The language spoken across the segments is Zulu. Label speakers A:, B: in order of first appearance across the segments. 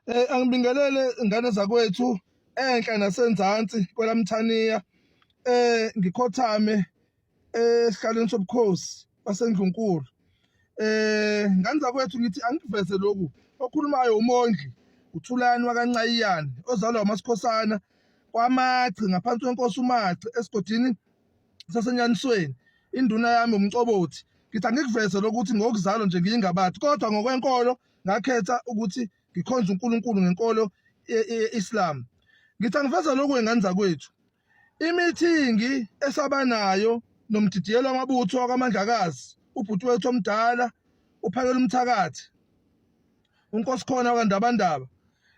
A: Eh angibingelele ingane zakwethu enhla nasenzansi kwelamthaniya eh ngikhothame esihlalweni sobukhosi basendlunkulu eh ngane zakwethu ngithi angiveze lokhu okhulumayo umondli uthulani wakancayiyane ozalwa umasikhosana kwamaci ngaphansi kwenkosi umaci esigodini sasenyanisweni induna yami umcobothi ngithi angikuveze lokuthi ngokuzalwa nje ngiyingabathi kodwa ngokwenkolo ngakhetha ukuthi ngikhonze uNkulunkulu ngenkolo ye-Islam. Ngithi angiveza lokhu engane zakwethu. Imithingi esabanayo nomdidiyelo wamabutho wakwamandlakazi ubhuti wethu omdala uphakela umthakathi unkosikhona wakandabandaba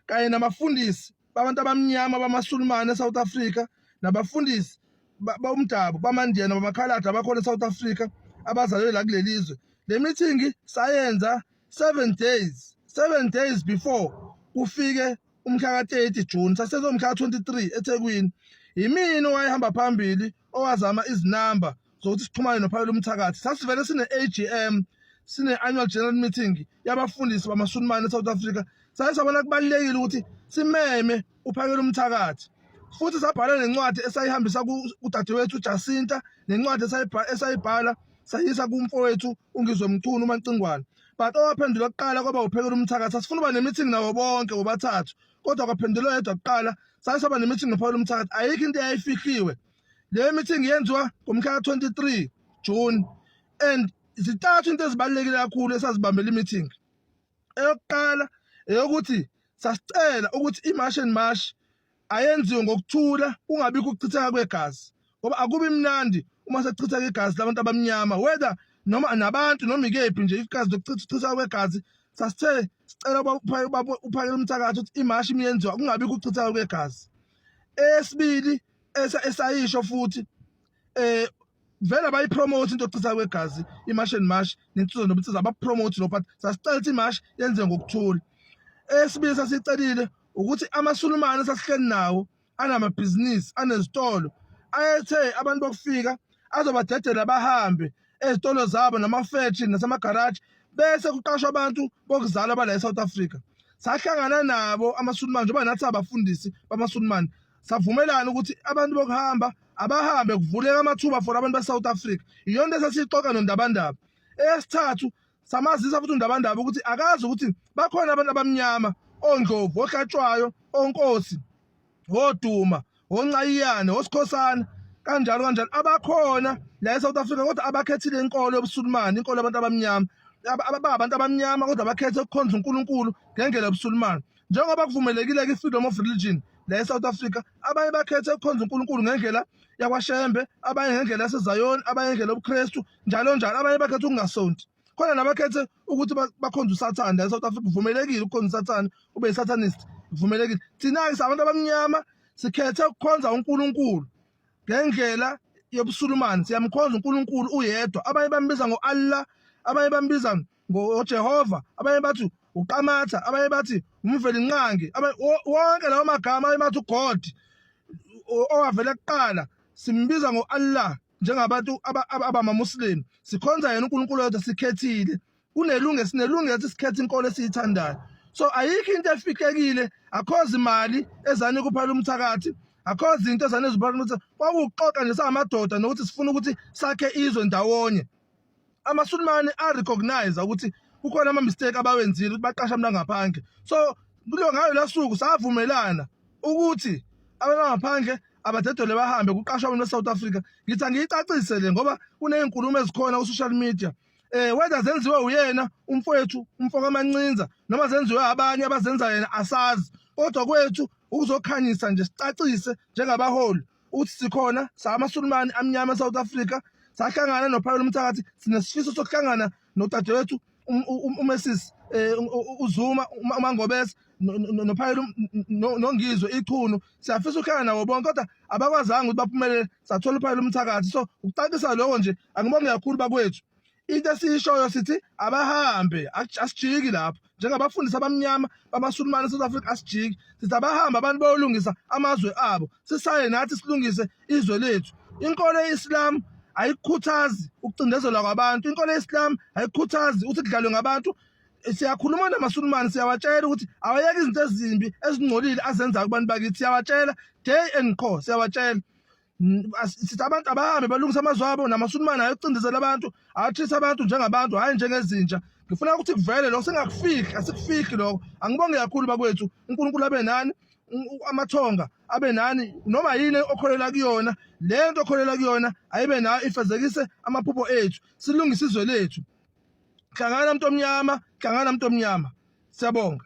A: kanye namafundisi babantu abamnyama bamasulumane eSouth Africa nabafundisi bomdabu bamandiyana bamakhaladi abakhona eSouth Africa abazalwe la kuleli zwe le mithingi sayenza 7 days 7 days before kufike umkhaka 30 June sasezomkhaka 23 eThekwini yimini owayehamba phambili owazama izinamba zokuthi sixhumane nophalo lomthakathi sasivele sine AGM sine annual general meeting yabafundisi bamasunimane eSouth Africa saye sabona kubalekile ukuthi simeme uphakela umthakathi futhi sabhala nencwadi esayihambisa kudadewethu uJacinta nencwadi esayibhala sayisa kumfowethu uNgizwe Mchunu uMancingwane but owaphendula kuqala kwaba uphekela umthakathi asifuna uba ne-meeting nawo bonke wobathathu kodwa kwaphendulwa yedwa kuqala saye saba ne-meeting nophawula umthakathi ayikho into eyayifihliwe le meeting yenziwa ngomhla ka-23 june and zitathu into ezibalulekile kakhulu esazibambela i-meeting eyokuqala eyokuthi sasicela ukuthi i-march and march ayenziwe ngokuthula kungabi kuchitheka kwegazi ngoba akubi mnandi uma sekuchitheka igazi labantu abamnyama whether noma nabantu noma ikephi nje igazi lokuchitheka kwegazi sasithe sicela uphakele umthakathi ukuthi imashi imiyenziwa kungabi kuchitheka kwegazi esibili esayisho futhi eh vele abayipromote into yokuchitha kwegazi imash and mash nensizo nobunsiza abapromote lo but sasicela ukuthi imash yenziwe ngokuthula esibili sasicelile ukuthi amasulumane sasihleli nawo anamabhizinisi anezitolo ayethe abantu bokufika azobadedela bahambe ezitolo zabo namafektri nasemagaraji bese kuqashwa abantu bokuzalwa bala eSouth Africa sahlangana nabo amaSulumane njengoba nathi abafundisi bamaSulumane savumelana ukuthi abantu bokuhamba abahambe kuvuleka amathuba for abantu baseSouth Africa iyona into esasixoxa nondabandaba eyesithathu samazisa futhi undabandaba ukuthi akazi ukuthi bakhona abantu abamnyama ondlovu ohlatshwayo onkosi woduma wonqayiyane wosikhosana kanjalo kanjalo abakhona la eSouth Africa kodwa abakhethile inkolo yobusulumani inkolo yabantu abamnyama ababantu abamnyama kodwa bakhethe ukukhonza uNkulunkulu ngendlela yobusulumani njengoba kuvumelekile kwi-freedom of religion la e-south africa abanye bakhethe ukukhonza unkulunkulu ngendlela yakwashembe abanye ngendlela yasezayoni abanye ngendlela yobukhristu njalo njalo abanye bakhethe ukungasonti khona nabakhethe ukuthi bakhonze usathane la e-south africa kuvumelekile ukukhonza usathane ube yi-satanist kuvumelekile thina-ke sabantu abamnyama sikhethe ukukhonza unkulunkulu ngendlela yobusulumane siyamkhonza unkulunkulu uyedwa abanye bambiza ngo-allah abanye bambiza ngoJehova abanye bathi uqamatha abanye bathi umvelinqangi wonke lawo magama abanye bathi uGod owavela kuqala simbiza ngo-Allah njengabantu abamamuslim sikhonza yena uNkulunkulu wethu sikhethile unelunge sinelungelo ukuthi sikhethe inkolo esiyithandayo so ayikho into efihlekile akhozi imali ezani kuphala umthakathi akhozi into ezani ezibhala ukuthi kwakuxoxa nje samadoda nokuthi sifuna ukuthi sakhe izwe ndawonye amaSulumane a recognize ukuthi kukhona ama mistake abawenzile ukuthi baqasha abantu ngaphandle so kulo ngayo lasuku savumelana ukuthi abantu ngaphandle abadedele bahambe kuqashwa abantu eSouth Africa ngithi angiyicacise le ngoba kunezinkulumo ezikhona ku social media eh whether zenziwe uyena umfowethu umfoko amancinza noma zenziwe abanye abazenza yena asazi kodwa kwethu ukuzokhanyisa nje sicacise njengabaholi uthi sikhona samasulumane amnyama eSouth Africa sahlangana nophawula umthakathi sinesifiso sokuhlangana nodadewethu um, um, um, uMesis eh, uZuma uMangobese nophayela nongizwe ichunu siyafisa ukuhlala nabo bonke kodwa abakwazanga ukuthi baphumelele sathola uphayela umthakathi so ukucacisa lokho nje angibonge kakhulu bakwethu into esiyishoyo sithi abahambe asijiki lapho njengabafundisi abamnyama bamasulumane eSouth Africa asijiki sithi abahambe abantu bayolungisa amazwe abo sisaye nathi silungise izwe lethu inkolo ye-Islam ayikhuthazi ukucindezelwa kwabantu inkolo ye-Islam ayikhuthazi ukuthi kudlalwe ngabantu siyakhuluma namasulumane siyawatshela ukuthi awayeke izinto ezimbi ezingcolile azenzayo kubantu bakithi siyawatshela day and co siyawatshela sithi abantu abahambe balungise amazwi abo namasulumane ayocindezela abantu athise abantu njengabantu hhayi njengezinja ngifuna ukuthi kuvele lokho singakufihli asikufihli lokho angibonge kakhulu bakwethu unkulunkulu abe nani amathonga abe nani noma yini okholela kuyona le nto okholela kuyona ayibe nayo ifezekise amaphupho ethu silungise izwe lethu hlangana mntu omnyama hlangana mntu omnyama siyabonga